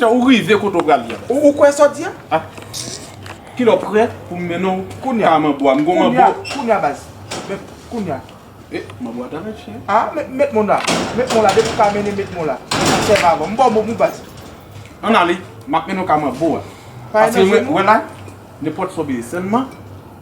Ou rive kote ou pral ye. Ou kwe sa w di a? Ki le w pre pou m mennen w kounya a manbo a. M gen yon manbo. Kounya baz. Kounya. E, manbo a ta mache. A, met moun la. Met moun la. Depi w ka mennen met moun la. Sèm avan. M ba w moun moun baz. An ale. M ap mennen w ka manbo a. Paske mwen la, nenpòt sa w bezwen. Sèlman.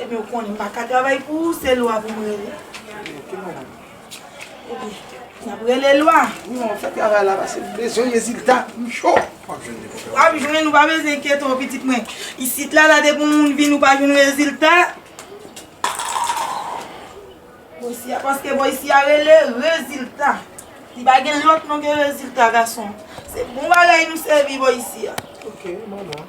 Ebyen ou konnen m pa ka travay pou ou, se lwa pou m rele. Ebyen, n ap rele lwa. Non, fè travay la paske m bezwen rezilta, m cho. W ap jwenn, ou pa bezwen enkyete w pitit mwen. Isit la, la depi yon moun vin ou pa jwenn rezilta. Bon isi a, paske bon isi a rele rezilta. Li pa gen lòt non ke rezilta gason. Se bon bagay nou sèvi bon isi a. Ok, m anò.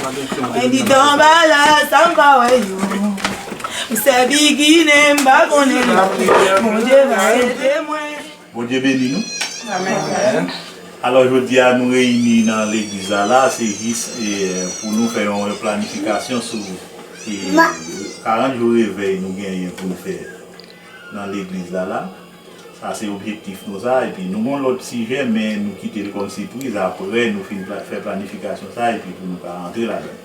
Mwen di Danbala sa m pa wè yo M sèvi Ginen m pa konnen yo Bondye va ede mwen Bondye beni nou Amen Alò jodi a nou reyini nan legliz la la a se jis pou nou fè yon replanifikasyon sou 40 jou revèy nou genyen pou nou fè nan legliz la la. Sa se objektif nou sa epi nou gon lòt sijè men nou kite l kòm sipriz aprè nou fin fè planifikasyon sa epi pou nou ka antre ladan l.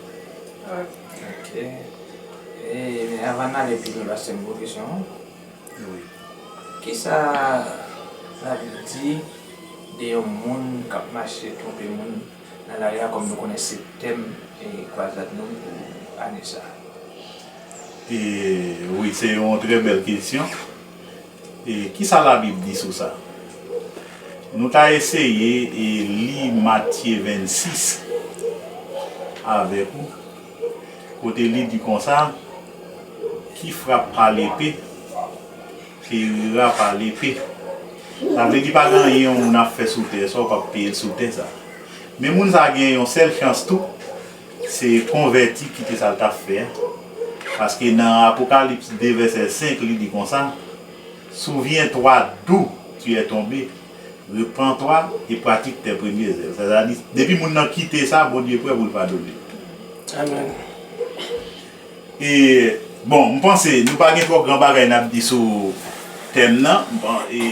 Avan n ale pi lwen paske se yon gwo kesyon kisa labib di de yon moun k ap mache twonpe moun nan lari a kòm nou konnen se tèm kwazad nou pou ane sa. Wi se yon trè bèl kesyon. E ki sa Labib di sou sa? Nou ta eseye li Matye 26 avèk ou, kote li di konsa, Ki frap pa lepe, perira pa lepe. Sa vle di pa gen anyen yon moun ap fè sou tè sa ou pap peye l sou tè sa. Men moun sa gen yon sèl chans tou. Se konvèti kite sa l t ap fè a. Paske nan Apokalips 2 vèsè 5 li di konsa, Souviens-toi d'où tu es tombé, repens-toi et pratique tes premières œuvres. Sètadi, depi moun nan kite sa, Bondye prè pou l padone l. Amen. E, bon, m panse nou pa gen twò gran bagay n ap di sou tèm nan. M pan, e.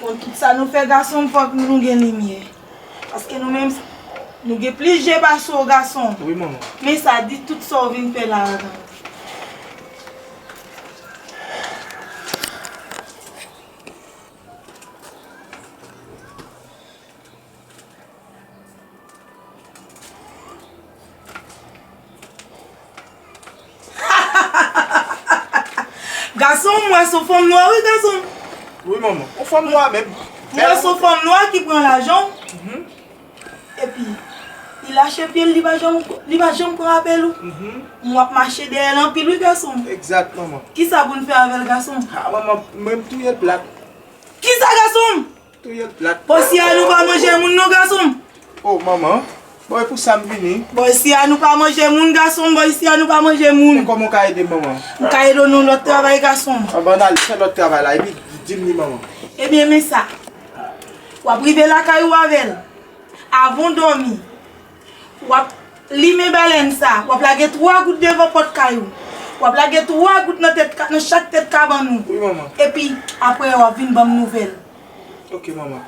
Bon tout sa nou fè gason fòk nou gen limyè paske nou menm nou gen plis je pase w gason men sa di tout sa w vin fè la a nan. Gason mwen son fanm nwa wi gason. Wi manman, ou fanm nwa menm. Mwen son fanm nwa ki pran lajan w. Epi li lache pye l li pa janm li pa janm pran apèl ou. M wap mache dèyè l anpil wi gason m. Egzat manman. Kisa pou n fè avè l gason m? Ha manman, mwen m touye plat. Kisa gason m? Touyel plat. Posia nou pa manje moun non gason m. Oh manman Bon e pou sa m vini. Posia nou pa manje moun gason m posia nou pa manje moun. Men koman w ka ede m manman. M ka ede w nan yon lot travay gason m. Anba n al fè lot travay la epi di m li manman. Ebyen men sa. Wap rive lakay ou avèl. Avan w domi. Wap limen balèn sa, wap lage 3 gout devan pòt kay ou, wap lage 3 gout nan tèt nan chak tèt kabann ou. Wi manman. Epi aprè wap vin banm nouvèl. Ok manman.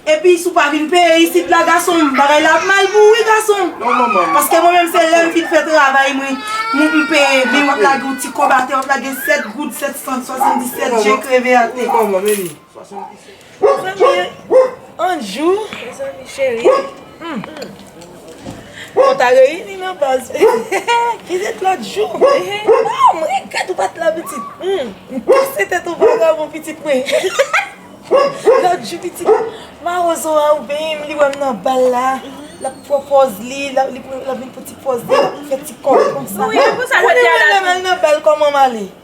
Epi si w pa vin peye isit la gason m, bagay la ap mal pou ou wi gason. Non manman. Paske mwen menm se lèm fin fè travay mwen, mwen m peye, men wap lage yon ti kòb atè, wap lage 7 goud 777 je kreve atè. Wi manman, men li. Mezanmi Anjou mezanmi cheri Nou ta reyini nan baz Ki ret lòt jou Mwen regrèt ou pat la pitit M kase tèt ou vagabon pitit mwen Lòt jou pitit Mawozo a ou benyen m li wè m nan bal la Lap pran pòz li Lap vin pran ti pòz li Lap fè ti kòl konsa Ou konnen mwen lèm al nan bal kòman m ale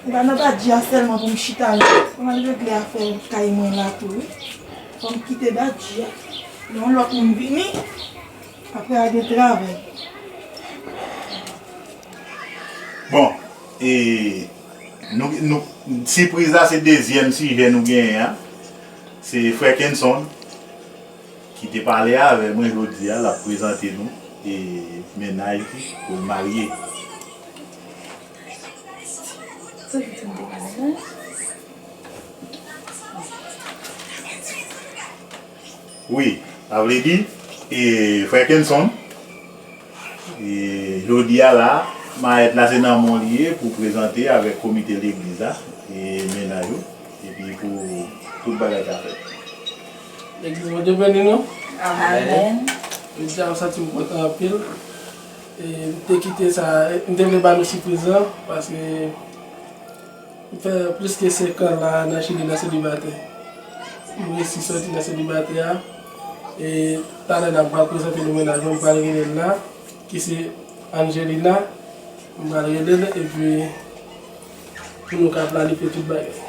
Ou ka nan Badji a sèlman pou m chita la. Fòm al regle afè kay mwen la tou wi. Fòm kite Badji a. Lè yon lòt moun vini, aprè a gen travay. Bon, e, nou, nou, sipriz la se dezyèm sijè nou genyen an. Se frè Kenson ki te pale avè mwen jodi a, l ap prezante nou e mennaj li, pou l marye. Wi sa vle di e frè kenson e jodia la mayèt la se nan men w li ye pou prezante avèk komite legliz la e mennaj ou epi pou tout bagay ka fèt. Legliz Bondye beni nou. Amen. Jodia m santi m kontan anpil. M te kite sa, m te vle ba nou sipriz lan paske m fè plis ke 5 an la nan Chili nan selibatè. M resi soti nan selibatè a e talè la m pral prezante nou mennaj mwen, m pral rele l la ki se Angelina. M pral rele l epi pou nou ka planifye tout bagay.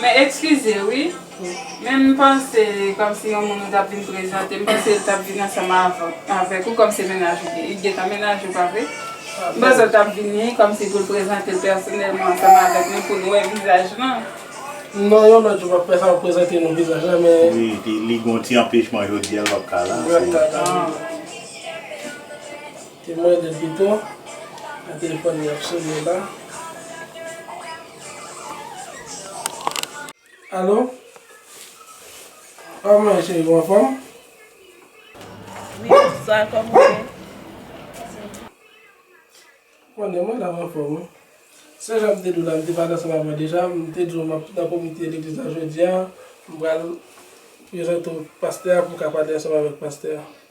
Men ekskize wi, men m panse kòm si yon moun ou tap vin prezante, m panse l tap vin ansanm avèk ou kòm se mennaj ou ye. Li t gentan mennaj ou pa vre? M panse l tap vini kòm si pou l prezante l pèsonèlman ansanm avèk nou pou nou wè vizaj lan. Non, yon lòt jou map fè sa map prezante nou vizaj la men. Wi, li gen yon ti anpechman jodi a l pap ka la. Li pap ka la. Temwen de Feyton nan telefòn li ap sone la. Alo? Aw mwen cheri ou anfòm? Wi bonswa kòman ou ye? Konnen mwen la m anfòm wi. Se jan m te di w la m te pale ansanm avè w deja, m te di w m ap nan komite legliz la jodia, m pral prezante w pastè a pou m ka pale ansanm avèk pastè a.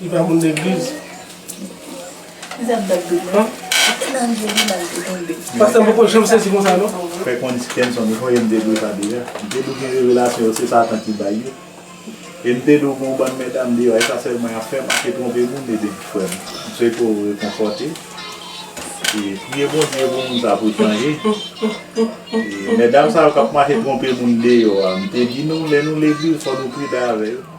Li pa moun legliz. Lizab bèl doub non. Ti nan je li bal te tonbe. Pastè m poko janm sezi konsa non. Fè konn ti kenson li voyem de do sa deja. M te di w gen revelasyon yo se satan ki bay yo. E m te di w gen yon bann medam deyò e sa sèlman yap fè manke twonpe moun ede ti frè m. M swete w rekonfòte. E priye Bondye pou moun sa pou l chanje. E medam sa yo kap mache twonpe moun deyò a m te di nou lè nou legliz fò nou pridan avè yo.